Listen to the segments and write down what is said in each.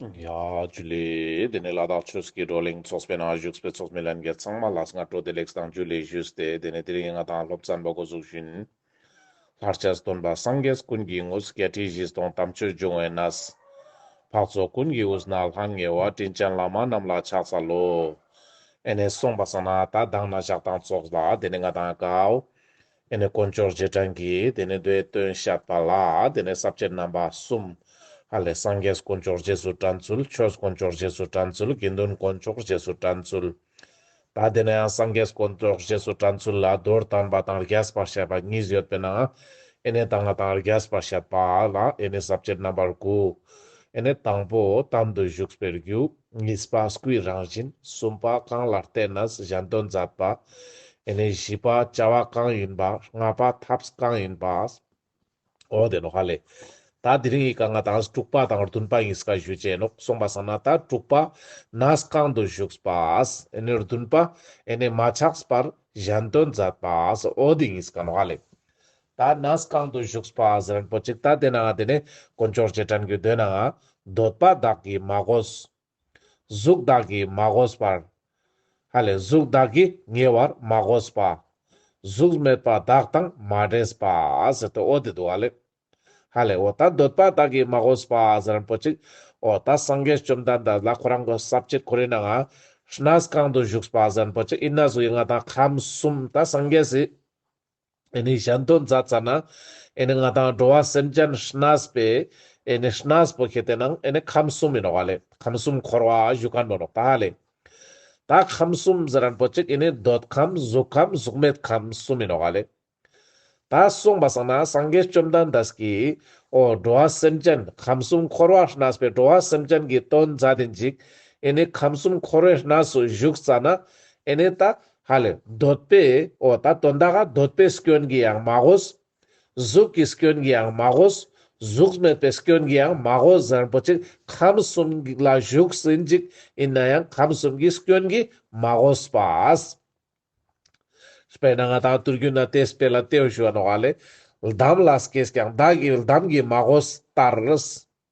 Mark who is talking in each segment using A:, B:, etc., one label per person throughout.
A: ཡ། ཇུ་ལེ། དེ་ནས་ལ་དྭགས་ཆོས་སྐྱིད་བགྲོ་གླེང་ཚོགས་པའི་ནང་བཞུགས་པའི་ཚོགས་མི་ལན་བརྒྱད་ཚང་མ་ལ་སྔ་དྲོ་བདེ་ལེགས་དང་ཇུ་ལེ་ཞུས་ཏེ་དེ་ནས་དེ་རིང་ང་དང་སློབ་ཚན་པ་འགོ་ཚུགས་ཤིང། ལྷར་བཅའ་སྟོན་པ་སངས་རྒྱས་ཀུན་གྱི་དངོས་སུ་བརྒྱད་ཁྲི་བཞི་སྟོང་དམ་ཆོས་འབྱུང་བའི་ན་བཟའ། འཕགས་ཚོགས་ཀུན་གྱི་དབུས་ན་ལྷང་ངེ་བ་དྲིན་ཅན་བླ་མ་རྣམས་ལ་ཕྱག་འཚལ་ལོ། ཨེ་ནས་གསུངས་པ་བསམ་ན་ད་གདངས་ན་བཞག་དང་ཚོགས་ལ་དེ་ནས་ང་དང་ཀའོ། དེ་ནས་དཀོན་མཆོག་རྗེས་འབྲང་གིས་དེ་ནས་མདོའི་སྟོན་བཤད་པ་ལ་དེ་ནས་ཟབ་ཆོས་རྣམ་པ་གསུམ། ཧ་ལས་སངས་རྒྱས་དཀོན་མཆོག་རྗེས་སུ་འབྲང་ཚུལ་ཆོས་དཀོན་མཆོག་རྗེས་སུ་འབྲང་ཚུལ་དགེ་འདུན་དཀོན་མཆོག་རྗེས་སུ་འབྲང་ཚུལ། ད་དེ་ནས་ཡང་སངས་རྒྱས་དཀོན་མཆོག་རྗེས་སུ་འབྲང་ཚུལ་ལ་རྡོར་དམ་པ་དང་རྒྱས་པར་བཤད་པ་གཉིས་ཡོད་པས་ན་ཨེ་ནས་དང་ང་དང་རྒྱས་པར་བཤད་པ་ལ་ཨེ་ནས་ཟབ་ཆོས་རྣམ་པར་དགུ། ཨེ་ནས་དང་པོ་དམ་དུ་བཞུགས་པའི་རྒྱུ། གཉིས་པ་སྐུའི་རང་བཞིན་གསུམ་པ་གང་ལ་བརྟེན་ན་གཞན་དོན་མཛད་པ། ནི་བཞི་པ་བྱ་བ་གང་ཡིན་པ་ལྔ་པ་ཐབས་གང་ཡིན་པ། འོ་དེ་ནོ་ཧ་ལས། ད་དེ་རིང་ཡི་ག་ལྔ་དང་དྲུག་པ་དང་བདུན་པ་གཉིས་ཀ་ཞུས་བྱས་ནོ་གསུངས་པ་སང་ན་ད་དྲུག་པ་ན་གང་དུ་བཞུགས་པ། ནི་བདུན་པ་ནི་མ་ཆགས་པར་གཞན་དོན་མཛད་པ། འོ་དེ་གཉིས་ཀ་ནོ་ཧ་ལས། ད་ན་སི་གང་དུ་བཞུགས་པ་ཨ་ཟི་རན་པོ་ཅིག་ད་དེ་ནའང་དེ་ནས་དཀོན་མཆོག་ཅེས་དྲན་དགོས་འདོད་ནའང། འདོད་པ་བདག་གིས་མ་གོས། གཟུགས་བདག་གིས་མ་གོས་པར། ཧ་ལས་གཟུགས་བདག་གིས་ཉེ་བར་མ་གོས་པ། གཟུགས་མེད་པ་བདག་དང་མ་འདྲེས་པ། ཟེར་ཏེ་ཨོ་དེ་འདུག་ཨ་ལས། ཧ་ལས་ཨོ་ད་འདོད་པ་བདག་གིས་མ་གོས་པ་ཨ་ཟི་རན་པོ་ཅིག། ཨོ་ད་སངས་རྒྱས་བཅོམ་ལྡན་འདས་ལ་ཁོ་རང་གི་ཟབ་ཁྱད་ཁོ་རེ་ནའང། ཧྲི་ན་སི་གང་དུ་བཞུགས་པ་ཨ་ཟི་རན་པོ་ཅིག་ཨི་ན་གཟུགས་དབྱིབས་ལྔ་དང་ཁམས་གསུམ་ད་སངས་རྒྱས་སི། ཨེ་ནི་གཞན་དོན་མཛད་ཙྪ་ན། ཨེ་ནི་ང་དང་འགྲོ་བ་སེམས་ཅན་ཤཱནཱས་པའི། ཨེ་ནི་ཤཱནཱས་པོ་ཁྱེད་དེ་ན་ཨེ་ནི་ཁམས་གསུམ་མི་ནོར་བ་ལས་ཁམས་གསུམ་འཁོར་བ་བཞུགས་ག་ནོ་ནོག་ད་ལས། ད་ཁམས་གསུམ་ཟི་རན་པོ་ཅིག་ཨེ་ནི་འདོད་ཁམས་གཟུགས་ཁམས་གཟུགས་མེད་ཁམས་གསུམ་མི་ནོར་བ་ལས། ད་གསུངས་པ་སང་ན་སངས་རྒྱས་བཅོམ་ལྡན་འདས་ཀྱིས། ཨོ་འགྲོ་བ་སེམས་ཅན་ཁམས་གསུམ་འཁོར་བ་ཤཱནཱས་པའི་འགྲོ་བ་སེམས་ཅན་གྱི་དོན་མཛད་དེ་འཇིག། ཨེ་ནི་ཁམས་གསུམ་འཁོར་བའི་ཤཱནཱས་སུ་བཞུགས་ཙྪ་ན། ཨེ་ནི་ད། ཧ་ལས། འདོད་པས་ཨོ་ད་དོ་འདག་ག་འདོད་པའི་སྐྱོན་གྱིས་ཡང་མ་གོས། གཟུགས་ཀྱི་སྐྱོན་གྱིས་ཡང་མ་གོས། གཟུགས་མེད་པའི་སྐྱོན་གྱིས་ཡང་མ་གོས་གཟའ་རིན་པོ་ཆེ་ཁམས་གསུམ་ལ་བཞུགས་ཟིན་གཅིག་ཡིན་ན་ཡང་ཁམས་གསུམ་གྱི་སྐྱོན་གྱིས་མ་གོས་པ། དཔེར་ན་ང་དང་དུར་རྒྱུན་ན་དེས་དཔེ་ལ་ལྟོས་ཞུ་བ་ནོ་ཨ་ལས། ལྡམ་ལ་སྐྱེས་ཀྱང་བདག་གི་ལྡམ་གྱིས་མ་གོས་ལྟར།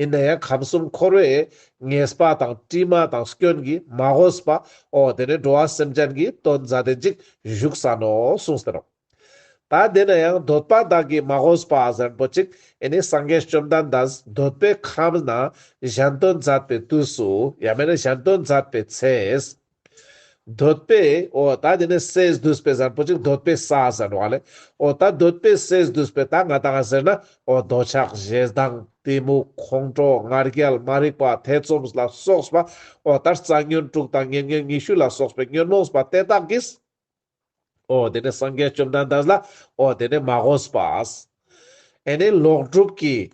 A: ཡིན་ན་ཡང་ཁམས་གསུམ་འཁོར་བའི་ངེས་པ་དང་དཀྲིས་མ་དང་སྐྱོན་གྱིས་མ་བསྒོས་པ་འོ་དེ་ནས་འགྲོ་བ་སེམས་ཅན་གྱི་དོན་མཛའ་བརྟེན་ཅིག་བཞུགས་ས་ནོ་གསུངས་ཟེར་རོ། ད་དེ་ན་ཡང་འདོད་པ་དག་གིས་མ་བསྒོས་པ་གཟན་པོ་ཅིག་ཡིན་ནི་སངས་རྒྱས་བཅོམ་ལྡན་འདས་འདོད་པའི་ཁམས་ན་གཞན་དོན་མཛད་པའི་དུས་སུ་ཡང་མེད་ན་གཞན་དོན་མཛད་པའི་ཚེ། འདོད་པས་ཨོ་ད་འདི་ནི་སས་བསྡུས་པས་ཟར་པོ་ཅིག་འདོད་པས་ས་ཟེར་བ་ལས་ཨོ་ད་འདོད་པས་སས་བསྡུས་པས་ད་ང་དང་ཟེར་ན་ཨོ་འདོད་ཆགས་གཞན་དང་གཏི་མུག་ཁོང་ཁྲོ་ང་རྒྱལ་མ་རིག་པ་ཐེ་ཚོམ་ལ་སོགས་པ་ཨོ་ད་རྩ་ཉོན་དྲུག་དང་ཉེ་ཉོན་ཉི་ཤུ་ལ་སོགས་པའི་ཉོན་མོངས་པ་དེ་དག་གིས། ཨོ་དེ་ནས་སངས་རྒྱས་བཅོམ་ལྡན་འདས་ལ་ཨོ་དེ་ནས་མ་ཧོ་སི་པཱས། ཨེ་ནས་ལོག་སྒྲུབ་ཀྱི།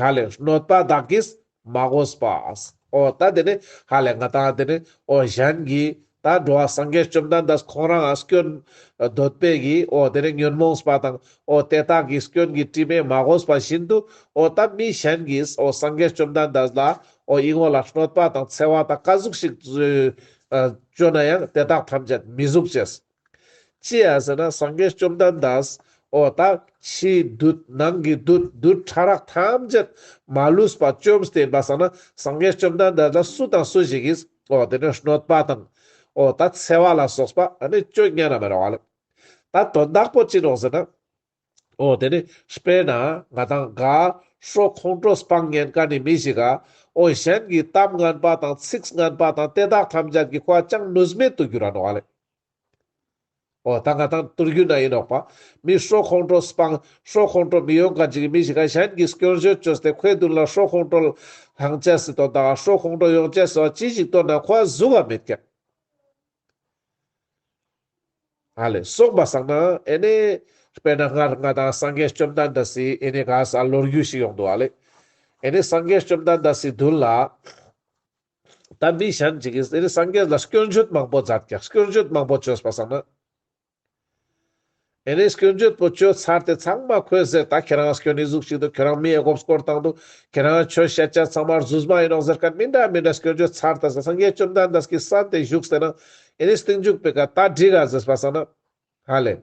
A: ཧ་ལས་གནོད་པ་བདག་གིས་མ་ཧོ་སི་པཱས། ཨོ་ད་དེ་ནས་ཧ་ལས་ང་དང་དེ་ནས་ཨོ་གཞན་གྱིས་ད་འགྲོ་བ་སངས་རྒྱས་བཅོམ་ལྡན་འདས་ཁོང་རང་ཨ་སྐྱོན། འདོད་པས་གྱིས་ཨོ་དེ་ནས་ཉོན་མོངས་སི་པ་དང་ཨོ་དེ་དག་གིས་སྐྱོན་གྱིས་དཀྲིས་པས་མ་ཧོ་སི་པ་བཞིན་དུ་ཨོ་ད་མི་གཞན་གྱིས་ཨོ་སངས་རྒྱས་བཅོམ་ལྡན་འདས་ལ་ཨོ་དབྱིངས་བ་ལ་གནོད་པ་དང་འཚེ་བ་དང་དཀའ་གཟུགས་ཤིག་བཟོས། སྤྱོད་ན་ཡང་དེ་དག་ཐམས་ཅད་མི་གཟུགས་བྱས། ཅི་ཡང་ཟེར་ན་སངས་རྒྱས་བཅོམ་ལྡན་འདས། འོ་དག་ཕྱིའི་བདུད་ནང་གི་བདུད་བདུད་ཕྲ་རགས་ཐམས་ཅད་མ་ལུས་པ་བཅོམ་ལྡན་འབའ་ས་ན་སངས་རྒྱས་བཅོམ་ལྡན་འདས་ལ་སུ་དང་སུ་ཞིག་གིས་འོ་དེ་ནས་གནོད་པ་དང། འོ་ད་འཚེ་བ་ལ་སོགས་པ་ནི་སྤྱོད་ངན་རྣམས་མི་རུང་བ་ལགས། ད་དོན་དག་པོ་ཅི་ནོ་ཟེར་ན། ཨོ་དེ་ནི་སྤེན་ན་ང་དང་དགའ། ཧྲོ་ཁོང་ཁྲོ་སྤང་ངན་དཀའ་ནི་མི་ཞིག་ག། ཨོ་གཞན་གྱི་གཏམ་ངན་པ་དང་ཚིགས་ངན་པ་དང་དེ་དག་ཐམས་ཅད་ཀྱི་ཁོག་ཅང་ནུས་མེད་དུ་གྱུར་ར་ནོག་ལེ། ཨོ་ད་ང་དང་དུར་རྒྱུད་ན་ཡིན་ནོག་པ། མི་ཧྲོ་ཁོང་ཁྲོ་སྤང། ཧྲོ་ཁོང་ཁྲོ་མི་ཡོང་ག་ཅིག་གི་མི་ཞིག་ག་གཞན་གྱི་སྐྱོན་བཤོད་བཅོས་སྟེ་ཁོའི་མདུན་ལ་ཧྲོ་ཁོང་ཁྲོ། ལྷང་བཅས་སི་ཏོ་ད་ཧྲོ་ཁོང་ཁྲོ་ཡོང་བཅས་སོགས་ཅི་ཞིག་བཏོན་ན་ཁོ་བ་གཟུགས་བ་མེད་ཀྱང། ཨ་ལས་སོགས་པ་བསགས་ན་ཨེ་ནས། དཔེར་ན་སྔར་ང་དང་སངས་རྒྱས་བཅོམ་ལྡན་འདས་སུ་ཨེ་ནས་ག་ས་ལོ་རྒྱུས་ཤིག་ཡོང་འདུག་ཨ་ལས། ཨེ་ནས་སངས་རྒྱས་བཅོམ་ལྡན་འདས་སུ་མདུན་ལ། ད་མི་གཞན་གྱིས་ཨེ་ནས་སངས་རྒྱས་ལ་སྐྱོན་བརྗོད་མང་པོ་མཛད་ཀྱང་སྐྱོན་བརྗོད་མང་པོ་བྱོས་པ་བསགས་ན། ཨེ་ནས་སྐྱོན་བརྗོད་པོ་བཅོས་ཚར་དེ་ཚང་མ་ཁོས་ཟེར་ད་ཁྱེད་རང་སྐྱོན་ནི་གཟུགས་གཅིག་འདུག་ཁྱོད་རང་མིའི་སྒོབས་སྐོར་བཏང་འདུག་ཁྱེད་རང་ཆོས་བཤད་བྱ་ཚང་མར་ཟུར་མ་ཡིན་རོགས་ཟེར་ག་མི་འདྲ་མི་འདྲ་སྐྱོན་བརྗོད་ཚར་ད་ཟེར་སངས་རྒྱས་བཅོམ་ལྡན་འདས་ཀྱིས་ས་དེ་བཞུགས་ཟེར་ན་ཨེ་ནས་སྟེང་འཇུག་པའི་ག་ད་འགྲིག་ག་ཟེར་སྤ་ས་ན། ཧ་ལས།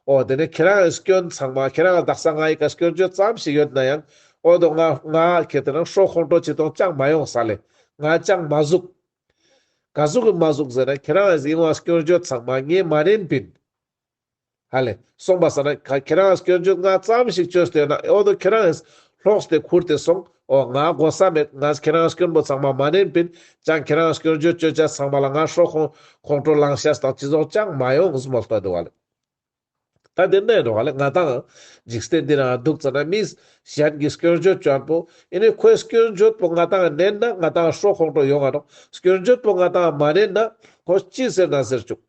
A: ཨོ་དེ་ནས་ཁྱེད་རང་ཡི་སྐྱོན་ཚང་མ་ཁྱེད་རང་ལ་བདག་ས་ང་ཡི་ག་སྐྱོན་བརྗོད་ཙམ་ཞིག་ཡོད་ན་ཡང་ཨོ་དོ་ང་ང་ཁྱེད་དེ་རང་ཧྲོག་ཁོང་ཁྲོ་བྱེད་དོང་ཅང་མ་ཡོང་ས་ལས་ང་ཅང་མ་གཟུགས། ག་གཟུགས་གི་མ་གཟུགས་ཟེར་ན་ཁྱེད་རང་གིས་གཡེང་བ་སྐྱོན་བརྗོད་ཚང་མ་ངས་མ་རན་པིན། ཧ་ལས་སོང་པ་ཟེར་ན་ག་ཁྱེད་རང་གིས་སྐྱོན་བརྗོད་སྔ་ཙམ་ཞིག་བརྗོད་སྡོད་ན་ཨོ་དོ་ཁྱེད་རང་གིས་ལྷོགས་སྟེ་འཁུར་ཏེ་སོང་ཨོ་ང་དགོ་ས་མེད་ང་ཁྱེད་རང་གིས་སྐྱོན་པོ་ཚང་མ་མ་རན་པིན་ཅང་ཁྱེད་རང་གིས་སྐྱོན་བརྗོད་བརྗོད་བྱ་ཚང་མ་ལ་ང་ཧྲོ་ཁོང་ཁོང་ཁྲོ་ལང་ཤ་སྟག་ཅི་རྫོགས་ཅང་མ་ཡོང་ངས་མོ་ལྟོ་དེ་བ་ལས། ད་དེ་འདྲའི་འགྲོ་བ་ལས་ང་དང། འཇིག་རྟེན་འདི་ནའང་སྡུག་ཙམ་ན་མིས། གཞན་གྱི་སྐྱོན་བརྗོད་བཅོམ་པོ། ཡིན་ནའི་ཁོའི་སྐྱོན་བརྗོད་པོ་ང་དང་བསྣན་ན་ང་དང་ཤོག་ཁོག་འགྲོ་ཡོང་བ་དང། སྐྱོན་བརྗོད་པོ་ང་དང་མ་བསྣན་ན། ཁོ་ཅི་ཟེར་ན་ཟེར་བཅུག།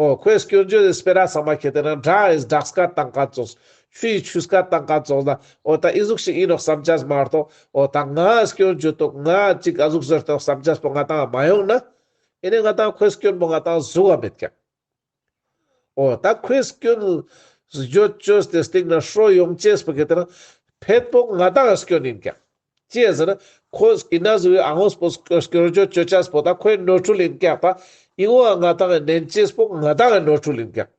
A: ཨོ། ཁོའི་སྐྱོན་བརྗོད་དེ་སྤེ་ར་ཚང་མ་ཁྱེར་ཏེ་ན་སྒྲ་ཨིས་སྒྲགས་སྐད་བཏང་ག་ཙོགས། ཆུ་ཡིས་ཆུ་སྐད་བཏང་ག་ཙོགས་ན། ཨོ་ད་ཨི་གཟུགས་ཤིག་ཡིན་ནོག་བསམ་རྒྱས་མ་རྟོགས། ཨོ་ད་ང་སྐྱོན་བརྗོད་དོགས་ང་ཅིག་ག་གཟུགས་བཟོས་ཏོག་བསམ་རྒྱས་པོ་ང་དང་མ་ཡོང་ན། ཡིན་ནའི་ང་དང་ཁོའི་སྐྱོན་པོ་ང་དང་གཟུགས་བ་མེད་ཀྱང། ཨོ། ད་ཁོས་སྐྱོན། བརྗོད་བཅོས་དེ་སྟེང་ན་ཧྲོལ་ཡོང་ཅེས་པ་གི་དེ་ན། ཕེད་པོག་ང་དག་སྐྱོན་ཡིན་ཀྱང། ཅེས་ཟེར་ན། ཁོས་ཨི་ན་ཟི་འི་ཨ་ཧོས་པོ་སྐྱོན་བརྗོད་བཅོས་བྱས་པོ་ད་ཁོའི་ནོར་འཁྲུལ་ཡིན་ཀྱང། པ་ཨི་ངོ་ཨ་ང་དག་ནན་ཅེས་པོག་ང་དག་ནོར་འཁྲུལ་ཡིན་ཀྱང།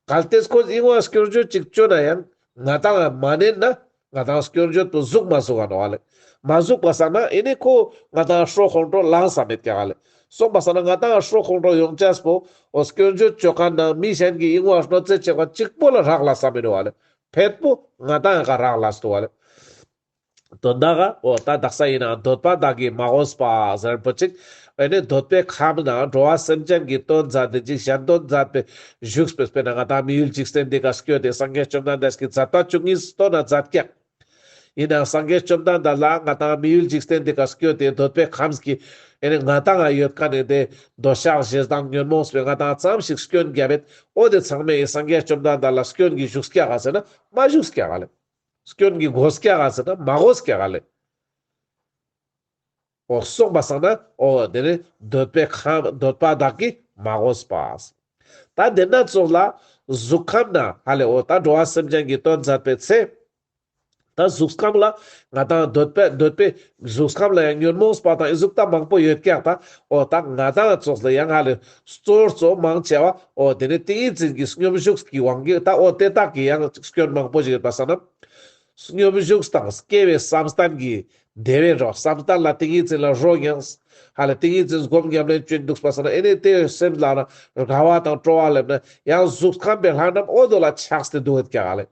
A: གལ་ཏེ་ཁོས་ཨི་ངོ་ཨ་སྐྱོན་བརྗོད་ཅིག་བཅོས་ན་ཡང། ང་དག་མ་ནན་ན། ང་དང་སྐྱོན་བརྗོད་དུ་གཟུགས་མ་གཟུགས་གནང་བ་ལས། མ་གཟུགས་པ་ཟ་ན་ཨེ་ནས་ཁོ་ང་དང་ཧྲོ་ཁོང་ཁྲོ་ལངས་ས་མེད་ཀྱང་ལས། གསུངས་པ་ཟ་ན་ང་དང་ཧྲོ་ཁོང་ཁྲོ་ཡོང་ཅགས་པོ་འོ་སྐྱོན་བརྗོད་བྱོས་ཁ་ན་མི་གཞན་གྱི་ཡིང་བ་ཧྲོ་རྩེ་བྱེད་པ་གཅིག་པོ་ལ་རག་ལ་ས་མི་རུ་བ་ལས། ཕེད་པོ་ང་དང་ག་རག་ལ་སུ་བ་ལས། དོན་དག་ག་འོ་ད་དག་ས་ཡིན་ན་འདོད་པ་དག་གིས་མ་འོས་པ་ཟེར་བུ་ཅིག་བས་ནི་འདོད་པའི་ཁམས་ན་འགྲོ་བ་སེམས་ཅན་གྱི་དོན་མཛད་དེ་འཇིགས་བྱེད་དོན་མཛད་པའི་བཞུགས་པའི་དཔེ་ན་ང་དང་མི་ཡུལ་འཇིག་རྟེན་འདི་གར་སྐྱོད་དེ་སངས་རྒྱས་བཅོམ་ལྡན་འདས་ཀྱི་མཛད་རྟགས་བཅུ་གཉིས་སུ་སྟོན་ན་མཛད་ཀྱང། ཡིན་ནའང་སངས་རྒྱས་བཅོམ་ལྡན་འདས་ལ་ང་དང་མི་ཡུལ་འཇིག་རྟེན་འདི་གར་སྐྱོད་དེ་འདོད་པའི་ཁམས་ཀྱི་ཡེ་ནས་ང་དང་ང་ཡོད་དཀའ་ནས་དེ་འདོད་ཆགས་བཞི་དང་ཉོན་མོངས་པའི་ང་དང་ཙམ་ཞིག་སྐྱོན་བརྒྱ་བས་ཨོ་དེ་ཚང་མས་ཡི་སངས་རྒྱས་བཅོམ་ལྡན་འདས་ལ་སྐྱོན་གྱི་བཞུགས་སྐྱེ་ག་ཟེར་ན་མ་བཞུགས་སྐྱེ་ག་ལས། སྐྱོན་གྱི་སྒོ་སྐྱེ་ག་ཟེར་ན་མ་སྒོ་སྐྱེ་ག་ལས། ཨོ་སོགས་པ་བསགས་ན་ཨོ་དེ་ནི་འདོད་པའི་ཁམས་འདོད་པ་བདག་གི་མ་གོ་ས་པ། ད་དེ་སྣ་ཚོགས་ལ། གཟུགས་ཁམས་ན་ཧ་ལས་ཨོ་ད་འགྲོ་བ་སེམས་ཅན་གྱི་དོན་མཛད་པའི་ཚེ། ད་གཟུགས་ཁམས་ལ། ང་དང་འདོད་པས་འདོད་པའི་གཟུགས་ཁམས་ལ་ཡང་ཉོན་མོངས་ས་པ་དང་གཟུགས་ད་མང་པོ་ཡོད་ཀྱག་ད་ཨོ་ད་ང་དང་ཚོགས་ལ་ཡང་ཧ་ལས་སོ་གཙོ་མང་ཆེ་བ་ཨོ་དེ་ནི་ཏིང་ངེ་འཛིན་གྱི་སྙོམས་བཞུགས་ཀྱི་དབང་གིས་ད་ཨོ་དེ་དག་གི་ཡང་སྐྱོན་མང་པོ་ཞིག་ཡོད་པ་བསགས་ན། སྙོམས་བཞུགས་དང་སྐྱེ་བའི་བསམ་གཏན་གྱིས་བདེ་བའི་རོ། བསམ་བརྟགས་ལ་ཏིང་ངེ་འཛིན་ལ་རོ་མྱངས། ཧ་ལས་ཏིང་ངེ་འཛིན་སྒོམ་ཉམས་ལེན་སྤྱོད་འདུག་པ་སོགས་ན་ཨེ་ནས་དེ་བས་སེམས་ལ་ན་རྒ་བ་དང་སྤྲོ་བ་སླེབ་ན་ཡང་གཟུགས་ཁམས་པའི་ལྷ་རྣམས་འོད་དོ་ལ་ཆགས་ཏེ་འདུག་ཨེ་ཀྱ་ཧ་ལས་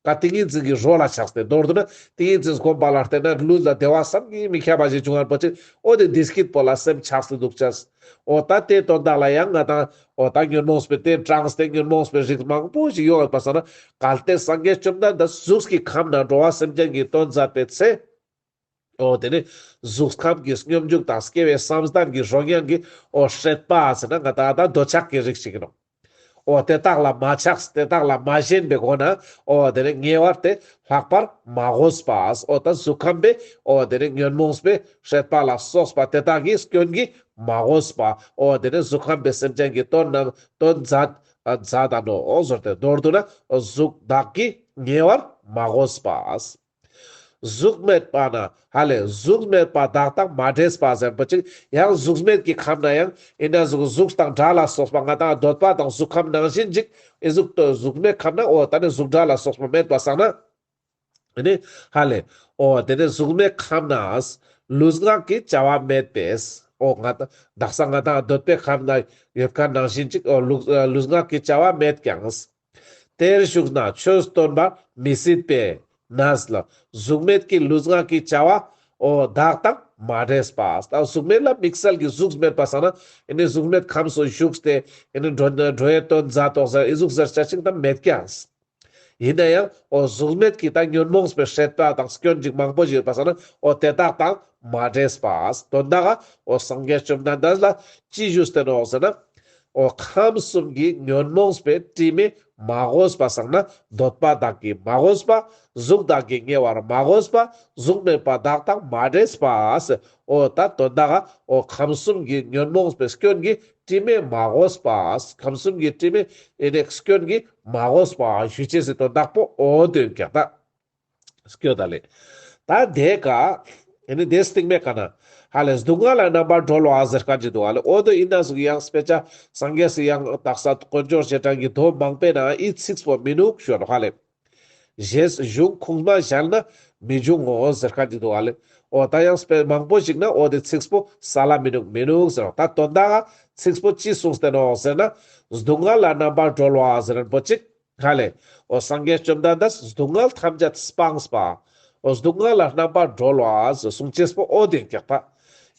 A: ཀ་ཏིང་ངེ་འཛིན་གྱི་རོ་ལ་ཆགས་ཏེ་མདོར་བསྡུ་ན་ཏིང་ངེ་འཛིན་སྒོམ་པ་ལ་བརྟེན་ན་ལུས་ལ་བདེ་བ་བསམ་གྱིས་མི་ཁྱབ་པ་ཞིག་འབྱུང་བར་བ་ཅིག་འོད་དེ་འདི་སྐྱིད་པོ་ལ་སེམས་ཆགས་སུ་འདུག་ཅེས། ཨོ་ད་དེ་དོན་དག་ལ་ཡང་ང་དང་ཨོ་ད་ཉོན་མོངས་པའི་དེ་གྲངས་དེ་ཉོན་མོངས་པའི་རིགས་མང་པོ་ཞིག་ཡོང་འོས་པ་སོང་ན་གལ་ཏེ་སངས་རྒྱས་བཅོམ་ལྡན་འདས་གཟུགས་ཀྱི་ཁམས་ན་འགྲོ་བ་སེམས་ཅན་གྱི་དོན་མཛད་པའི་ཚེ། ཨོ་དེ་ནས་གཟུགས་ཁམས་ཀྱི་སྙོམས་འཇུག་དང་སྐྱེ་བའི་བསམ་གཏན་གྱི་རོ་མྱང་གིས་ཨོ་བསྲེགས་པ་ཟེར་ན་ང་དང་ཨ་ད་འདོད་ཆགས་ཀྱི་རིགས་ཤིག་ཡིན་ནོ། འོ་དེ་དག་ལ་མ་ཆགས་དེ་དག་ལ་མ་ཞེན་པའི་སྒོ་ནས་འོ་དེ་ནི་ཉེ་བར་དེ་ལྷག་པར་མ་གོས་པ་འོ་དང་གཟུགས་ཁམས་པའི་འོ་དེ་ནི་ཉོན་མོངས་པའི་ཤེས་པ་ལ་སོགས་པ་དེ་དག་གི་སྐྱོན་གྱིས་མ་གོས་པ་འོ་དེ་ནི་གཟུགས་ཁམས་པའི་སེམས་ཅན་གྱི་དོན་རྣམས་དོན་མཛད་མཛད་དང་ནོ་ཟུར་དེ་མདོར་བསྡུ་ན་གཟུགས་བདག་གིས་ཉེ་བར་མ་གོས་པ། གཟུགས་མེད་པ་ན་ཧ་ལས་གཟུགས་མེད་པ་བདག་དང་མ་འདྲེས་པ་ཟེར་བ་ཅིག་ཡང་གཟུགས་མེད་ཀྱི་ཁམས་ན་ཡང་ཡིན་ན་གཟུགས་གཟུགས་དང་སྒྲ་ལ་སོགས་པ་ལྔ་དང་ཟློས་པ་དང་གཟུགས་ཁམས་ནང་བཞིན་ཅིག་ཨི་གཟུགས་ཏོ་གཟུགས་མེད་ཁམས་ན་ཨོ་ད་ནི་གཟུགས་སྒྲ་ལ་སོགས་པ་མེད་པར་བསམ་ན་ནི་ཧ་ལས་ཨོ་དེ་ནི་གཟུགས་མེད་ཁམས་ན་ལུས་ངག་གི་བྱ་བ་མེད་པས་ཨོ་ང་དང་བདག་ས་ལྔ་དང་ཟློས་པའི་ཁམས་ན་ཡོད་ཁ་ནང་བཞིན་ཅིག་ཨོ་ལུས་ངག་གི་བྱ་བ་མེད་ཀྱང། དེར་ཞུགས་ན་ཆོས་སྟོན་པ་མི་སྲིད་པས་ན། གཟུགས་མེད་ཀྱི་ལུས་ངག་གི་བྱ་བའོ། བདག་དང་མ་འདྲེས་པ། གཟུགས་མེད་ལ་དམིགས་བསལ་གྱི་གཟུགས་མེད་པ་ཟེར་ན། གཟུགས་མེད་ཁམས་སུ་ཞུགས་ཏེ། འགྲོའི་དོན་མཛའ་དོག་ཟེར་ཨི་གཟུགས་གཟེར་བྱ་ཞིང་དང་མེད་ཀྱང། ཡིན་ན་ཡང་གཟུགས་མེད་ཀྱི་དང་ཉོན་མོངས་པའི་ཧྲེད་པ་དང་སྐྱོན་ཅིག་མང་པོ་ཞིག་ཡོད་པ་ཟེར་ན། དེ་བདག་དང་མ་འདྲེས་པ། དོན་དག་གི་སངས་རྒྱས་བཅོམ་ལྡན་འདས་ལ་ཅི་ཞུས་བསྟན་ནོ་ཟེར་ན། ཨོ་ཁམས་གསུམ་གྱི་ཉོན་མོངས་པའི་དྲི་མས་མ་གོས་པ་བསགས་ན་འདོད་པ་དག་གིས་མ་གོས་པ། གཟུགས་དག་གིས་ཉེ་བར་མ་གོས་པ། གཟུགས་མེད་པ་དག་དང་མ་འདྲེས་པ། ཨོ་ད་དོན་དག་ཨོ་ཁམས་གསུམ་གྱི་ཉོན་མོངས་པའི་སྐྱོན་གྱིས་དྲི་མས་མ་གོས་པ། ཁམས་གསུམ་གྱི་དྲི་མའི། སྐྱོན་གྱིས་མ་གོས་པ། ཞུ་བྱེད་ཟད་དོན་དག་པོ་ཨོ་དོན་གྱི་རྟགས། སྐྱོ་ད་ལེ། ད་དེ་ཀ། ཨེ་ནི་དེ་སྟིག་མེ་ཀ་ན། ཧ་ལས་སྡུག་བསྔལ་ལ་རྣམ་པར་གྲོལ་བ་ཟེར་ཀ་ཅི་འདུག་ཨ་ལེ་ཨོ་དོ་ཨི་ན་ཟུག་གཡང་སྤེ་ཅ། སངས་རྒྱས་སུ་ཡང་དག་ས་དཀོན་ཅོག་བྱེ་བྲག་གི་དོན་མང་པས་ན་ཨི་ཚིགས་པོ་མི་ནུག་ཤོད་ཧ་ལས། གཞས་གཞུང་ཁུངས་མ་བཞལ་ན་མི་འབྱུང་ངོ་ཟེར་ཀ་ཅི་འདུག་ཨ་ལེ་ཨོ་ད་གཡང་སྤེ་མང་པོ་ཞིག་ན་ཨོ་དེ་ཚིགས་པོ་ས་ལ་མི་ནུག་མི་ནུག་ཟེར་ད་དོན་དག་ཨ་ཚིགས་པོ་ཅི་གསུངས་བསྟན་ནོ་ཟེར་ན། སྡུག་བསྔལ་ལ་རྣམ་པར་གྲོལ་བ་ཟེར་རན་པོ་ཅིག། ཐ་ལེ། ཨོ་སངས་རྒྱས་བཅོམ་ལྡན་འདས་གཟུགས་བསྔལ་ཐམས་ཅད་སྤངས་པ། ཨོ་གཟུགས་བསྔལ་ལ་རྣམ་པར་སྒྲོལ་བ་གསུང་ཆེན་སྤོ་བོ་དེ་སྐད་པ།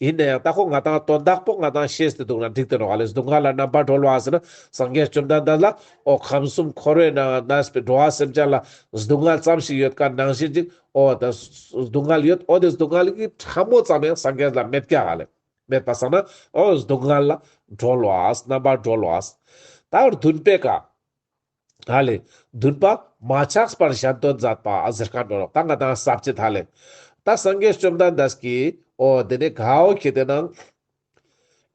A: ཡིན་ན་ཡང་ད་ཁོ་ང་དང་དོན་དག་པོ་ང་དང་ཤེས་ཏེ་འདུག་ན་འགྲིག་དོན་ག་ལས་གཟུགས་བསྔལ་ལ་རྣམ་པར་སྒྲོལ་བ་ཟེར་ན་སངས་རྒྱས་བཅོམ་ལྡན་འདས་ལ་ཨོ་ཁམས་གསུམ་འཁོར་བའི་ནང་ན་གནས་པའི་འགྲོ་བ་སེམས་ཅན་ལ་གཟུགས་བསྔལ་ཙམ་ཞིག་ཡོད་དཀའ་ནང་བཞིན་ཅིག་ཨོ་ད་གཟུགས་བསྔལ་ཡོད་ཨོ་དེ་གཟུགས་བསྔལ་གྱི་ཕྲ་མོ་ཙམ་ཡང་སངས་རྒྱས་ལ་མེད་སྐྱ་ག་ལས་མེད་པ་ཟེར་ན་ཨོ་གཟུགས་བསྔལ་ལ་སྒྲོལ་བ་རྣམ་པར་སྒྲོལ་བ། ད་བརྡུན་པས་ཀ། ཐ་ལེ། འདུན་པ། མ་ཆགས་པར་ཞལ་སྟོན་མཛད་པ་གཟིར་ཁ་འགྲོ་རོགས་ད་ང་དང་ཟབ་ཅི་ཐ་ལེ། ད་སངས་རྒྱས་བཅོམ་ལྡན་འདས་ཀྱིས་ཨོ་དེ་ནས་གའོ་ཁྱེད་དེ་ནང།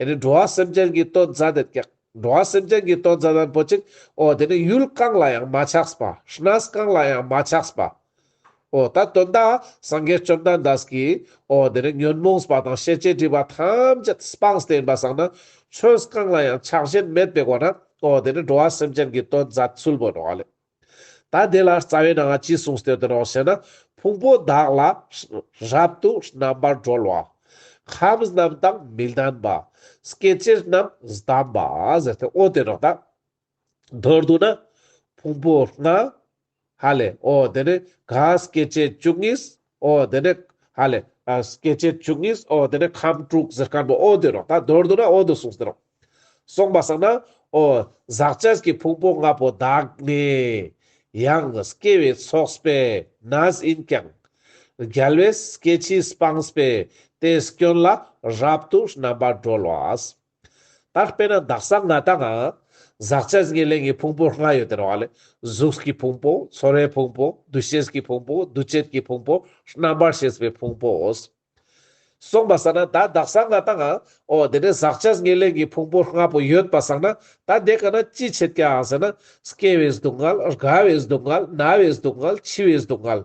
A: ཨེ་ནི་འགྲོ་བ་སེམས་ཅན་གྱི་སྟོན་མཛད་དེ་ཀྱེ། འགྲོ་བ་སེམས་ཅན་གྱི་སྟོན་མཛད་དང་པོ་གཅིག་ཨོ་དེ་ནི་ཡུལ་གང་ལ་ཡང་མ་ཆགས་པ་ཧྲི་ནཱས་གང་ལ་ཡང་མ་ཆགས་པ། འོ་ད་དོན་དག་སངས་རྒྱས་བཅོམ་ལྡན་འདས་ཀྱིས་འོ་དེ་ནས་ཉོན་མོངས་པ་དང་ཤེས་བྱའི་སྒྲིབ་པ་ཐམས་ཅད་སྤངས་བསྟན་པ་བཟང་ན་ཆོས་གང་ལ་ཡང་ཆགས་ཞེན་མེད་པའི་སྒོ་ནས་འོ་དེ་ནས་འགྲོ་བ་སེམས་ཅན་གྱི་དོན་མཛད་ཚུལ་བོད་འགྲོ་བ་ལས། ད་དེ་ལ་རྩ་བའི་ནང་ང་ཅི་གསུངས་ཟེར་དོན་འོ་ཞེ་ན་ཕུང་པོ་དག་ལ་རབ་ཏུ་རྣམ་པར་གྲོལ་བ། ཁམས་རྣམས་དང་མི་ལྡན་པ། སྐྱེ་མཆེད་རྣམས་བསྡམས་པ་ཟེར་ཏེ་འོ་དེ་ནས་ད་མདོར་བསྡུ་ན། ཕུང་པོ་ལྔ། ཧ་ལས་ཨོ་དེ་ནས་ག་སྐྱེ་མཆེད་བཅུ་གཉིས་ཨོ་དེ་ནས་ཧ་ལས། སྐྱེ་མཆེད་བཅུ་གཉིས་ཨོ་དེ་ནས་ཁམས་དྲུག་གཟེར་དཀར་པོ་ཨོ་དེ་རོ་ད་མདོར་བསྡུ་ན་ཨོ་དུ་གསུངས་ཟེར་རོ། གསུངས་པ་བསམ་ན། ཨོ་ཟག་བཅས་ཀྱི་ཕུང་པོ་ལྔ་པོ་དག་ནི། ཡང་སྐྱེ་བའི་ཚོགས་པས་ན་ཡིན་ཀྱང། རྒྱལ་བས་སྐྱེ་འཆིས་སྤངས་པས་དེའི་སྐྱོན་ལ་རབ་ཏུ་རྣམ་པར་གྲོལ་བ། ད་དཔེར་ན་བདག་གསང་སྔགས་དང། ཟག་བཅས་ངེས་ལེགས་ཀྱི་ཕུང་པོར་སྔར་ཡོད་དེར་བ་ལས། གཟུགས་ཀྱི་ཕུང་པོ། ཚོར་བའི་ཕུང་པོ། འདུ་ཤེས་ཀྱི་ཕུང་པོ། འདུ་བྱེད་ཀྱི་ཕུང་པོ། རྣམ་པར་ཤེས་པའི་ཕུང་པོའོ། གསུངས་པ་བསམས་ན་ད་བདག་གསང་སྔགས་དང། འོ་དེ་ནས་ཟག་བཅས་ངེས་ལེགས་ཀྱི་ཕུང་པོ་ལྔ་པོ་ཡོད་པར་བསམས་ན་ད་དེ་ག་ན་ཅི་བྱེད་ཀྱང་ཟེར་ན། སྐྱེ་བའི་སྡུག་བསྔལ། རྒ་བའི་སྡུག་བསྔལ། ན་བའི་སྡུག་བསྔལ། འཆི་བའི་སྡུག་བསྔལ།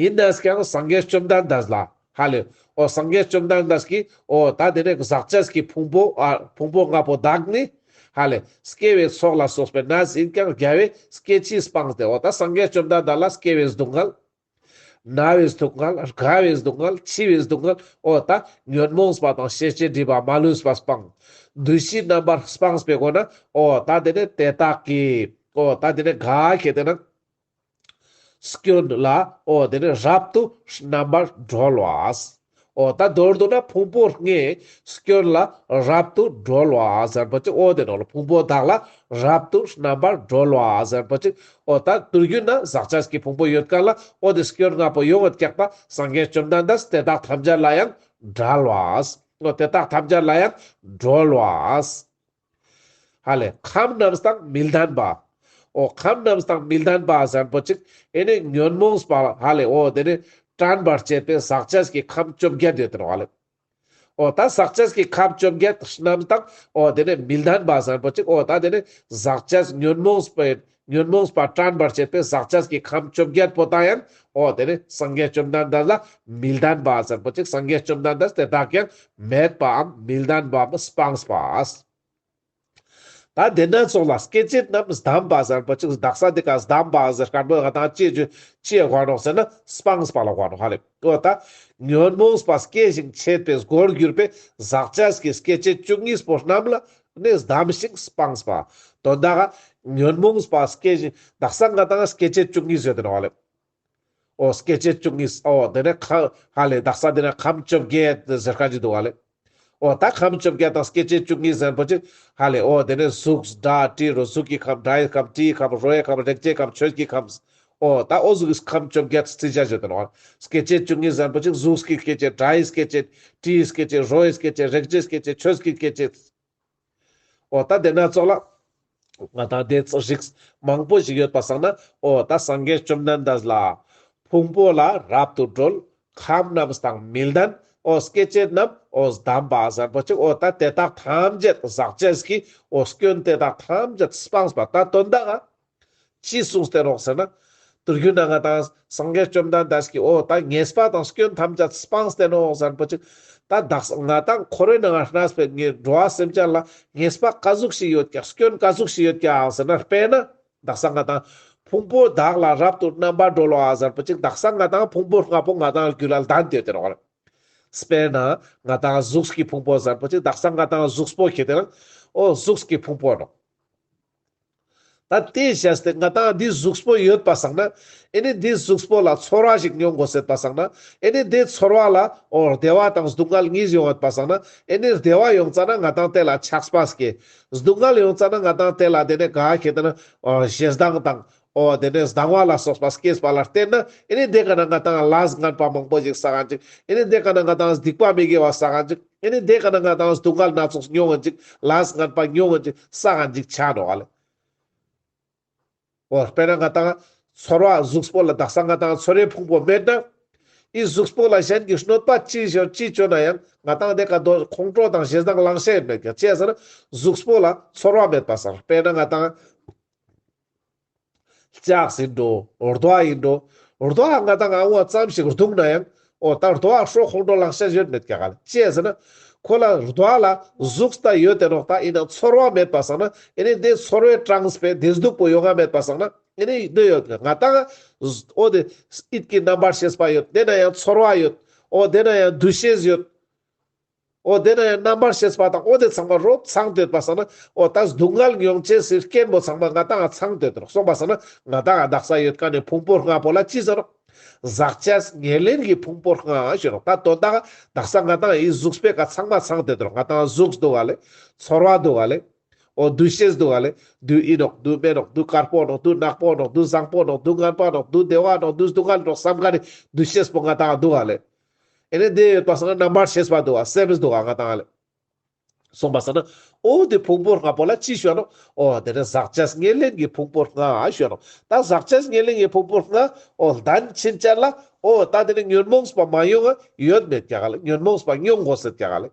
A: ཡིན་ནས་ཀྱང་སངས་རྒྱས་བཅོམ་ལྡན་འདས་ལ་ཧ་ལས། འོ་སངས་རྒྱས་བཅོམ་ལྡན་འདས་ཀྱིས་འོ་ད་དེ་ནས་ཟག་བཅས་ཀྱི་ཕུང་པོ་ཕུང་པོ་ལྔ་པོ་དག་ནི། ཧ་ལས། སྐྱེ་བའི་ཚོགས་ལ་སོགས་པའི་ནད་ཟིན་ཀྱང་རྒྱལ་བའི་སྐྱེ་མཆེད་སྤངས་ཏེ་འོ་ད་སངས་རྒྱས་བཅོམ་ལྡན་འདས་ལ་སྐྱེ་བའི་སྡུག་བསྔལ། ན་བའི་སྡུག་བསྔལ། རྒ་བའི་སྡུག་བསྔལ། འཆི་བའི་སྡུག་བསྔལ། འོ་ད་ཉོན་མོངས་པ་དང་ཤེས་བྱའི་སྒྲིབ་པ་མ་ལུས་པ་སྤངས། བདུད་བཞི་རྣམ་པར་སྤངས་པའི་སྒོ་ནས་འོ་ད་དེ་ནས་དེ་དག་གིས་འོ་ད་དེ་ནས་དགའ་ཞེས་དེ་ན། སྐྱོན་ལ་འོ་དེར་རབ་ཏུ་རྣམ་པར་གྲོལ་བ། འོ་ད་མདོར་བསྡུ་ན་ཕུང་པོ་ལྔའི་སྐྱོན་ལ་རབ་ཏུ་གྲོལ་བ་ཟེར་བ་ཅིག་འོ་དེ་ནང་ལ་ཕུང་པོ་དག་ལ་རབ་ཏུ་རྣམ་པར་གྲོལ་བ་ཟེར་བ་ཅིག་འོ་ད་དུས་རྒྱུན་ན་ཟག་བཅས་ཀྱི་ཕུང་པོ་ཡོད་དཀའ་ལ་འོ་དེ་སྐྱོན་ལྔ་པོ་ཡོངས་བསྐྱེད་པ་སངས་རྒྱས་བཅོམ་ལྡན་འདས་དེ་དག་ཐམས་ཅད་ལ་ཡང་བསྒྲལ་བ། འོ་དེ་དག་ཐམས་ཅད་ལ་ཡང་གྲོལ་བ། ཧ་ལས་ཁམས་རྣམས་དང་མི་ལྡན་པ། ཨོ་ཁམས་རྣམས་དང་མི་ལྡན་པ་གཟར་པོ་ཅིག་ཨེ་ནས་ཉོན་མོངས་པ་ཧ་ལས་ཨོ་དེ་ནས་དྲན་པར་བྱེད་པའི་ཟག་བཅས་ཀྱི་ཁམས་བཅོ་བརྒྱད་ཡོད་དོ་ཨོ་ལས། ཨོ་ད་ཟག་བཅས་ཀྱི་ཁམས་བཅོ་བརྒྱད་རྣམས་དང་ཨོ་དེ་ནས་མི་ལྡན་པ་གཟར་པོ་ཅིག་ཨོ་ད་དེ་ནས་ཟག་བཅས་ཉོན་མོངས་པའི་ཉོན་མོངས་པ་བཀྲམ་པར་བྱེད་པའི་ཟག་བཅས་ཀྱི་ཁམས་བཅོ་བརྒྱད་པོ་དག་ཡིན། འོ་དེ་ནི་སངས་རྒྱས་བཅོམ་ལྡན་འདས་ལ་མི་ལྡན་པ་ཟེར་པ་ཅིག་སངས་རྒྱས་བཅོམ་ལྡན་འདས་དེ་དག་གིས་མེད་པའམ་མི་ལྡན་པའམ་སྤངས་པ། ད་དེ་ནས་སོང་ལ་སྐད་ཅིག་རྣམས་བསྡམས་པ་ཟེར་པ་ཅིག་གདགས་ས་དེ་ཀ་བསྡམས་པ་ཟེར་དཀར་པོའི་ཧ་དང་ལྕེ་བཅུ་ལྕེ་དབང་རོགས་ཟེར་ན་སྤངས་པ་ལ་དབང་རོགས་ཧ་རེད། པོ་དང་ཉོན་མོངས་སྤ་སྐད་བཞིན་ཆད་པའི་སྒོར་གྱུར་པའི་ཟག་བཅས་ཀྱི་སྐད་ཅིག་བཅུ་གཉིས་སྤོ་རྣམས་ལ་ནི་བསྡམས་ཤིང་སྤངས་པ། དོན་དག་ཉོན་མོངས་སྤ་སྐད་བཞིན་བདག་སངས་རྒྱས་དང་སྐད་ཅིག་བཅུ་གཉིས་བརྗོད་དེ་ནོ། ཨོ་སྐད་ཅིག་བཅུ་གཉིས་ཨོ་དེ་ནི་ཁ་ལས་བདག་སངས་རྒྱས་ནི་ཁམས་བཅོ་བརྒྱད་གཞི་དཀར་གྱི་དུ་བ་ལས། ཨོ་ད་ཁམས་བཅོ་བརྒྱད་དང་སྐད་ཅིག་བཅུ་གཉིས་ཟན་པོ་ཅིག། ཧ་ལས་ཨོ་དེ་ནས་གཟུགས། སྒྲ། དྲི་རོ་གཟུགས་ཀྱི་ཁམས་སྒྲའི་ཁམས་དྲིའི་ཁམས་རོའི་ཁམས་རེག་བྱའི་ཁམས་ཆོས་ཀྱི་ཁམས། ཨོ་ད་ཨོ་གཟུགས་ཁམས་བཅོ་བརྒྱད་བརྩི་བྱ་བཞི་དོན། སྐད་ཅིག་བཅུ་གཉིས་ཟན་པོ་ཅིག་གཟུགས་ཀྱི་སྐད་ཅིག་སྒྲའི་སྐད་ཅིག། དྲིའི་སྐད་ཅིག་རོའི་སྐད་ཅིག་རེག་བྱའི་སྐད་ཅིག་ཆོས་ཀྱི་སྐད་ཅིག། ཨོ་ད་དེ་ན་ཚོགས་ལ། ང་དང་དེ་ཚོ་ཞིག་མང་པོ་ཞིག་ཡོད་པ་བསམ་ན་ཨོ་ད་སངས་རྒྱས་བཅོམ་ལྡན་འདས་ལ། ཕུང་པོ་ལ་རབ་ཏུ་སྒྲོལ། ཁམས་རྣམས་དང་མི་ལྡན་ཨོ་སྐྱེ་མཆེད་རྣམས་ཨོ་བསྡམས་པ་གཟན་པོ་ཆེ་ཨོ་ད་དེ་དག་ཐམས་ཅད་ཟག་བཅས་ཀྱི་ཨོ་སྐྱོན་དེ་དག་ཐམས་ཅད་སྤངས་པ་ད་དོན་དག་ཨོ་ཅེས་གསུངས་སྟེ་རོགས་ཟེར་ན། དུར་རྒྱུན་ན་ང་དང་སངས་རྒྱས་བཅོམ་ལྡན་འདས་ཀྱིས་འོ་ད་ངེས་པ་དང་སྐྱོན་ཐམས་ཅད་སྤངས་སྟེ་ནོ་ཟེར་པོ་ཅིག། ད་བདག་སང་ང་དང་ཁོ་རོའི་ནང་ང་རྣ་སྤེལ་ངའི་འགྲོ་བ་སེམས་ཅན་ལ་ངེས་པ་དཀའ་གཟུགས་ཤིག་ཡོད་ཀྱང་སྐྱོན་དཀའ་གཟུགས་ཤིག་ཡོད་ཀྱང་ཟེར་ན་དཔེར་ན་བདག་སང་ང་དང་ཕུང་པོ་བདག་ལ་རབ་ཏུ་རྣམ་པར་སྒྲོལ་བ་ཟེར་པོ་ཅིག་བདག་སང་ང་དང་ཕུང་པོ་ལྔ་པོ་ང་དང་རྒྱུ་ལ་ལྡན་དེ་དེ་རོགས། དཔེར་ན་ང་དང་གཟུགས་ཀྱི་ཕུང་པོ་ཟེར་པོ་ཅིག་བདག་སང་ང་དང་གཟུགས་པོ་གྱི་དེ་ན་འོ་གཟུགས་ཀྱི་ཕུང་པོ་རོགས། ད་དེ་བྱས་ཏེ་ང་དང་འདིའི་གཟུགས་པོ་ཡོད་པ་བསགས་ན། ཨེ་ནི་འདིའི་གཟུགས་པོ་ལ་ཚོར་བ་ཞིག་མྱོང་དགོས་ཟེར་པ་བསགས་ན། ཨེ་ནི་དེའི་ཚོར་བ་ལ་འོ་བདེ་བ་དང་སྡུག་བསྔལ་གཉིས་ཡོང་ཡོད་པ་བསགས་ན། ཨེ་ནི་བདེ་བ་ཡོང་ཙང་ན་ང་དང་དེ་ལ་ཆགས་པ་སྐྱེ། སྡུག་བསྔལ་ཡོང་ཙང་ན་ང་དང་དེ་ལ་དེ་ནས་ག་གེ་དེ་ནི་ཞེ་སྡང་དང་ཨོ་དེ་ནས་ཟླ་བ་ལ་སོགས་པ་སྐྱེས་པ་ལ་བརྟེན་ན་ཨེ་ནི་དེ་ག་ན་ང་དང་ལ་ཟ་ངན་པ་མང་པོ་ཞིག་ཟ་ག་འཇིག་ཨེ་ནི་དེ་ག་ན་ང་དང་སྡིག་པ་མི་དགེ་བ་ཟ་ག་འཇིག་ཨེ་ནི་དེ་ག་ན་ང་དང་དུག་མཁལ་སྣ་ཚོགས་མྱོང་ག་འཇིག་ལ་ཟ་ངན་པ་མྱོང་ག་འཇིག་ཟ་ག་འཇིག་བྱ་ནོ་ཨ་ལས། ཨོ་དཔེར་ན་ང་དང་ཚོར་བ་གཟུགས་པོ་ལ་བདག་ས་ང་དང་ཚོར་བའི་ཕུང་པོ་མེད་ན། དབྱི་གཟུགས་པོ་ལ་གཞན་གྱི་གནོད་པ་ཅི་ཞོར་ཅི་བྱོས་ན་ཡང་ང་དང་དེ་ག་དོ་ཁོང་ཁྲོ་དང་ཞེ་སྡང་བླང་བྱའི་མེད་ཀྱང་བཅས་ཟེར་ན་གཟུགས་པོ་ལ་ཚོར་བ་མེད་པ་ཟེར་དཔེར་ན་ང་དང། ལྕགས་ཟིན་འགྲོ། རྡོ་བ་ཡིན་འགྲོ། རྡོ་བ་ང་དང་ཨང་བ་ཙམ་ཞིག་རྡུང་ན་ཡང། འོ་ད་རྡོ་བ་ཧྲོག་ཧོང་འགྲོ་ལགས་ཤ་ཞོད་མེད་ཀྱ་ག་ལ་ཅེས་ཟེར་ན། ཁོ་ལ་རྡོ་བ་ལ་གཟུགས་ད་ཡོད་དེ་རོགས་ད་ཡིན་ན་ཚོར་བ་མེད་པ་བསགས་ན་ཨེ་ནི་དེ་ཚོར་བའི་གྲངས་སྤེ་དེ་སྡུག་པོ་ཡོད་ང་མེད་པ་བསགས་ན་ཨེ་ནི་སྡོད་ཡོད་ཀྱ་ང་དང། འོ་དེ་ཨིད་ཀྱི་རྣམ་པར་ཤེས་པ་ཡོད་དེ་ན་ཡང་ཚོར་བ་ཡོད། འོ་དེ་ན་ཡང་འདུ་ཤེས་ཡོད། ཨོ་དེ་ན་ཡང་རྣམ་པར་ཤེས་པ་དང་ཨོ་དེ་ཚང་མ་རོ་ཚང་དོད་པར་ས་ན་ཨོ་ད་སྡུག་བསྔལ་མྱོང་བྱེད་སྲིད་སྐྱེན་པོ་ཚང་མ་ང་དང་ཨ་ཚང་དོད་དོར་སོང་པར་ས་ན་ང་དང་ཨ་བདག་ས་ཡོད་ཀ་ནས་ཕུང་པོ་ལྔ་པོ་ལ་ཅི་ཟེར་རོ། ཟག་བཅས་ཉེར་ལེན་གྱི་ཕུང་པོ་ལྔ་ཞེས་རོ་ད་དོན་དག་བདག་ས་ང་དང་ཨའི་གཟུགས་སྤེལ་ཀ་ཚང་མ་ཚང་དོད་དོར་ང་དང་ཨ་གཟུགས་སྡུག་བ་ལས་ཚོར་བ་སྡུག་བ་ལས། ཨོ་འདུ་ཤེས་སྡུག་བ་ལས་སྡུག་ཨི་ནོག་སྡུག་སྨྲེ་ནོག་སྡུག་དཀར་པོ་ནོག་སྡུག་ནག་པོ་ནོག་སྡུག་བཟང་པོ་ནོག་སྡུག་ངན་པ་ནོག་སྡུག་བདེ་བ་ནོག་སྡུག་སྡུག་བསྔལ་ནོག་བསམ་ཀ་ནས་འདུ་ཤེས་པོ་ང་དང་ཨ་སྡུག་བ་ལས། ཨེ་ནས་དེ་ཡོད་པ་སང་རྣམ་པར་ཤེས་པ་འདུག་བ་སེམས་འདུག་བ་ང་དང་ལས། གསུངས་པ་སང་ན་ཨོ་དེ་ཕུང་པོ་ལྔ་པོ་ལ་ཅི་བྱོན་ནོ་ཨོ་དེ་ནས་ཟག་བཅས་ལྔས་ལེན་གྱི་ཕུང་པོ་ལྔ་བྱོན་ནོ་ད་ཟག་བཅས་ལྔས་ལེན་གྱི་ཕུང་པོ་ལྔ་ཨོ་བདེན་ཕྱིན་ཅད་ལ་ཨོ་ད་དེ་ནས་ཉོན་མོངས་པ་མ་ཡོང་ཨ་ཡོད་མེད་ཀྱ་ག་ལ་ཉོན་མོངས་པ་མྱོང་དགོས་ཟེར་ཀྱ་ག་ལ།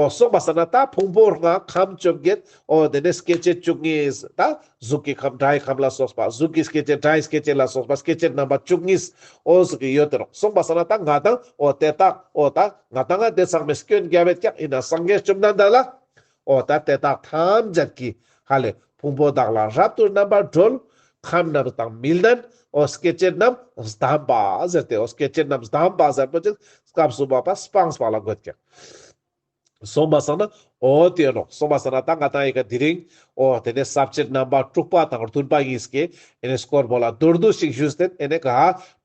A: ཨོ་སོགས་པ་ཟེར་ན་ད་ཕུང་པོ་ལྔ་ཁམས་བཅོ་བརྒྱད་ཨོ་དེ་ནས་སྐྱེ་མཆེད་བཅུ་གཉིས་ད་གཟུགས་ཀྱི་ཁམས་སྒྲའི་ཁམས་ལ་སོགས་པ་གཟུགས་ཀྱི་སྐྱེ་མཆེད་སྒྲའི་སྐྱེ་མཆེད་ལ་སོགས་པ་སྐྱེ་མཆེད་རྣམ་པ་བཅུ་གཉིས་ཨོ་སོགས་ཀྱི་ཡོད་དེ་རོ་སོགས་པ་ཟེར་ན་ད་ང་དང་ཨོ་དེ་དག་ཨོ་ད་ང་དང་ང་དེ་ཚང་མས་སྐྱོན་བརྒྱ་བས་ཀྱང་ཡིན་ན་སངས་རྒྱས་བཅོམ་ལྡན་འདས་ལ་འོ་ད་དེ་དག་ཐམས་ཅད་ཀྱི་ཧ་ལས་ཕུང་པོ་དག་ལ་རབ་ཏུ་རྣམ་པར་སྒྲོལ། ཁམས་རྣམས་དང་མི་ལྡན་འོ་སྐད་ཅིག་རྣམས་གདམས་པ་ཟེར་ཏེ་འོ་སྐད་ཅིག་རྣམས་གདམས་པ་ཟེར་པོ་ཅིག་སྐབས་སུ་བབ་པ་སྤངས་པ་ལ་དགོད་ཀྱི། གསུངས་པ་སོགས་ན་འོ་དེ་ཡིན་ནོ་གསུངས་པ་སོགས་ན་ད་ང་དང་ཡི་ག་འདི་རིང་འོ་དེ་ནས་ཟབ་ཆོས་རྣམ་པ་དྲུག་པ་དང་བདུན་པ་ཡིན་སྐད་ཨེ་ནས་སྐོར་པོ་ལ་མདོར་བསྡུ་ཞིག་ཞུས་ཏེ་ཨེ་ནས་ག་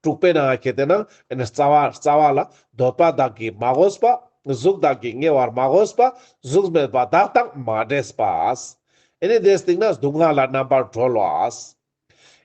A: དྲུག་པའི་ནང་གི་དེ་ནང་ཨེ་ནས་རྩ་བ་རྩ་བ་ལ་འདོད་པ་དག་གིས་མ་གོས་པ། གཟུགས་དག་གིས་ཉེ་བར་མ་གོས་པ། གཟུགས་མེད་པ་དག་དང་མ་འདྲེས་པ། འི་ནི་དེས་དེང་ན་སྡུག་བསྔལ་ལ་རྣམ་པར་གྲོལ་བ།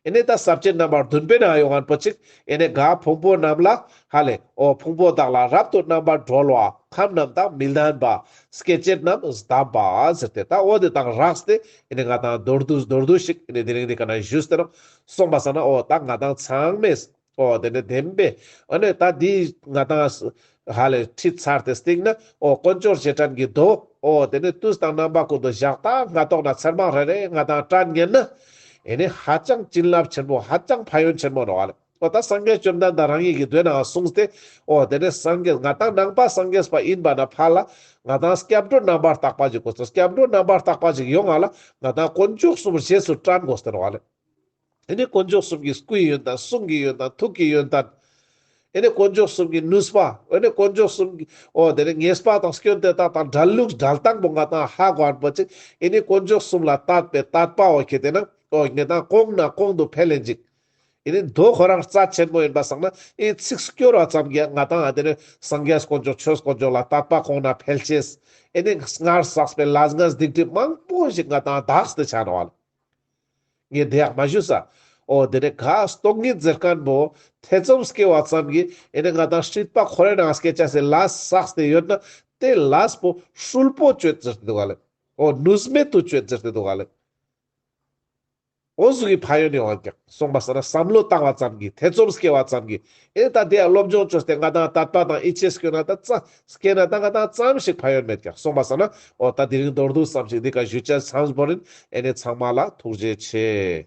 A: འི་ནི་ད་ཟབ་ཅིང་རྣམ་པར་གདུན་པའི་ན་ཡོ་གན་པོ་ཅིག་འི་ནི་དགའ་ཕུང་པོ་རྣམས་ལ་ཧ་ལས་ཨོ་ཕུང་པོ་དག་ལ་རབ་ཏུ་རྣམ་པར་གྲོལ་བ་ཁམས་རྣམས་དང་མི་ལྡན་པ་སྐད་ཅིག་རྣམས་དམ་པ་ཟེར་ཏེ་ད་ཨོ་དེ་དང་རགས་ཏེ་འི་ནི་ང་དང་མདོར་བསྡུ་མདོར་བསྡུ་ཞིག་འི་ནི་དེ་རིང་འདི་ག་ན་བཞུད་ཟེར་རོ་གསུངས་པ་ས་ན་ཨོ་ད་ང་དང་ཚང་མས། ཨོ་དེ་འདྲ་བདེན་པས་ཨ་ནུས་ད་འདི་ང་དང། ཧ་ལས་ཁྲིད་ཚར་ཏེ་སྟེང་ན་ཨོ་དཀོན་མཆོག་ཅེས་དྲན་གྱིས་བསྡོད། ཨོ་དེ་ནས་ཏུས་དང་རྣམ་པ་ཀུན་ཏུ་བཞག་ད་ང་ལྟོགས་ན་ཚེར་མ་རེ་རེ་ང་དང་སྐྲ་བསྙལ་ན། ཨེ་ནི་ཧ་ཅང་བྱིན་རླབས་ཆེན་པོ་ཧ་ཅང་ཕ་ཡོན་ཆེན་པོ་རེད། ཨོ་ད་སངས་རྒྱས་བཅོམ་ལྡན་འདས་རང་ཉིད་ཀྱིས་དུས་ནའང་གསུངས་ཏེ། ཨོ་དེ་ནས་སངས་རྒྱས་ང་དང་ནང་པ་སངས་རྒྱས་པ་ཡིན་པ་ན་ཕ་ལ། ང་དང་སྐྱབས་འགྲོ་རྣམ་པར་བརྟགས་པ་ཞིག་དགོས་སོ་སྐྱབས་འགྲོ་རྣམ་པར་བརྟགས་པ་ཞིག་ཡོང་ང་ལ་ང་དང་དཀོན་མཆོག་གསུམ་རྗེས་སུ་དྲན་དགོས་ཟེར་བ་ལས། ཨེ་ནི་དཀོན་མཆོག་གསུམ་གྱི་སྐུའི་ཡོན་དང་གསུང་གི་ཡོན་དང་ཐུགས་ཀྱི་ཡོན་ཏན། ཨེ་ནི་དཀོན་མཆོག་གསུམ་གྱི་ནུས་པ། ཨེ་ནི་དཀོན་མཆོག་གསུམ་གྱི་ཨོ་དེ་ནི་ངེས་པ་དང་སྐྱོན་དེ་དག་དང་སྒྲ་ལུགས་སྒྲ་དང་པོ་འགའ་དང་ཧ་གོ་བར་འབོད་ཅིག་ཨེ་ནི་དཀོན་མཆོག་གསུམ་ལ་ལྟ་བས་ལྟ་པའོ་ཁྱེད་དེ་ན་ཨོ་ངེས་དང་སྐོང་ན་སྐོང་དུ་འཕེལ་ལེན་ཅིག་ཨེ་ནི་མདོ་ཁོ་རང་རྩ་ཆེན་པོ་ཡིན་པར་བསམ་ན་ཨེའི་ཚིགས་སུ་སྐྱོར་བ་ཙམ་གྱིས་ང་དང་ཨ་དེ་ནི་སངས་རྒྱས་དཀོན་མཆོག་ཆོས་དཀོན་མཆོག་ལ་ལྟ་བ་སྐོང་ན་འཕེལ་ཆེས་ཨེ་ནི་སྔར་བསགས་པའི་ལ་སྔགས་སྡིག་སྒྲིབ་མང་པོ་ཞིག་ང་དང་བདག་གི་ཆ་ན་བ་ལ། ངས་དེ་ཡང་མ་ཞུས་ས། ཨོ་དེ་ནས་གཱ་སྟོང་གིས་མཛེར་དཀར་མོ་ཐེ་ཚོམ་སྐྱེ་བ་ཙམ་གྱིས་ཨེ་ནས་ང་དང་ཧྲིལ་པ་ཁོ་རའི་ནང་སྐད་ཆ་ཟེར་ལཱ་སགས་དེ་ཡོད་ན་དེ་ལཱས་པོ་ཧྲུལ་པོ་བཅོས་ཟེར་ཏེ་འདུག་ག་ལེ། ཨོ་ནུས་མེད་དུ་བཅོས་ཟེར་ཏེ་འདུག་ག་ལེ། ཨོ་ཟུག་གི་ཕ་ཡོད་ནས་འོན་ཀྱང་སོང་པ་ཟེར་ན་བསམ་བློ་བཏང་བ་ཙམ་གྱིས་ཐེ་ཚོམ་སྐྱེ་བ་ཙམ་གྱིས་ཨེ་ད་དེ་ཡང་སློབ་སྦྱོང་བཅོས་ཏེ་ང་དང་དར་པ་དང་ཨི་ཆེས་སྐྱོན་ན་ད་རྩ་སྐད་ན་ལྟ་ག་ད་ཙམ་ཞིག་ཕ་ཡོད་མེད་ཀྱང་གསུངས་པ་བསམ་ན་འོ་ད་དེ་རིང་མདོར་བསྡུས་བསམ་ཞིག་འདི་ག་གཞུད་བཅད་ཚངས་བོར་རིན་ཨེ་ནས་ཚང་མ་ལ་ཐུགས་རྗེ་ཆེ།